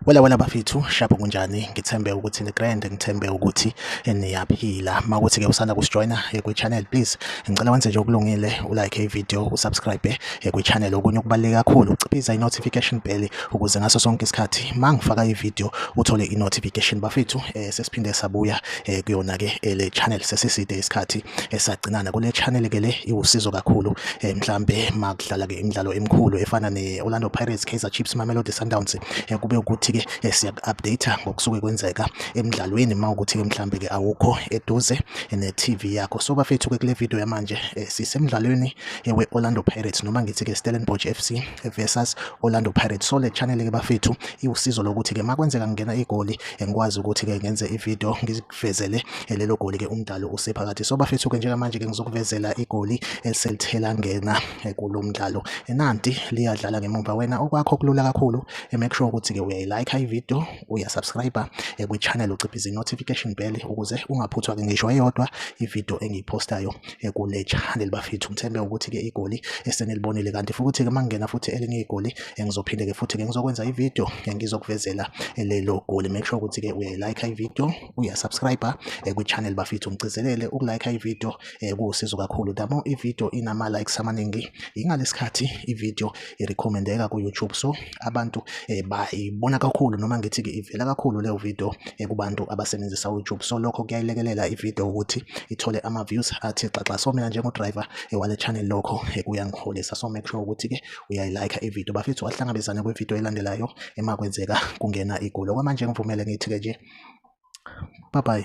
Wela wena bafethu shapho kunjani ngithembe ukuthi ni grand ngithembe ukuthi niyaphila makuthi ke usanda kusijoina eh, kwi channel please ngicela wenze nje okulungile u like i video u subscribe eh, eh, kwi channel okunye okubaleke kakhulu uciphiza i notification bell ukuze ngaso sonke isikhathi mangifaka i video uthole i notification bafethu sesiphinde sabuya eh, kuyona ke eh, le channel sesiside isikhathi esagcinana kule channel ke le iwusizo kakhulu eh, mhlambe makudlala ke imidlalo emikhulu efana ne Orlando Pirates Kaizer Chiefs Mamelodi Sundowns kube ukuthi ke siya update ngokusuke kwenzeka emidlalweni mawukuthi ke mhlambe ke awukho eduze ne TV yakho so bafethu ke kule video yamanje sisemidlalweni we Orlando Pirates noma ngithi ke Stellenbosch FC versus Orlando Pirates so le channel ke bafethu iwusizo lokuthi ke makwenzeka ngena igoli engikwazi ukuthi ke ngenze ivideo ngizivezele lelo goli ke umdlalo usephakathi so bafethu ke njengamanje ke ngizokuvezela igoli eselithela ngena kulo mdlalo enanti liyadlala ngemumva wena okwakho kulula kakhulu make sure ukuthi ke uyayilike ivideo uyasubscribe kwi-channel uciphiza i-notification bell ukuze ungaphuthwa ke ngisho eyodwa ivideo engiyipostayo ekulejali libafithu ngithembe ukuthi ke igoli esenilibonile kanti futhi ke mangena futhi elinye igoli engizophinde ke futhi ke ngizokwenza ivideo engizokuvezela lelo goli make sure ukuthi ke uyayilike ivideo uyasubscribe eh, kwi channel bafithu ngigcizelele ukulike ivideo eh, kuwusizo kakhulu damo ivideo inama likes amaningi ingalesikhathi ivideo irecommendeka ku YouTube so abantu eh, bayibona kakhulu noma ngithi ke ivela kakhulu leyo video eh, kubantu abasebenzisa u YouTube so lokho kuyayilekelela i video ukuthi ithole ama views athi xaxa so mina njengo driver eh, wale channel lokho eh, kuyangiholisa so make sure ukuthi ke uyayi like i video bafethu wahlangabezana kwi video elandelayo ema kwenzeka kungena igulo kwamanje ngivumele ngithi ke nje bye bye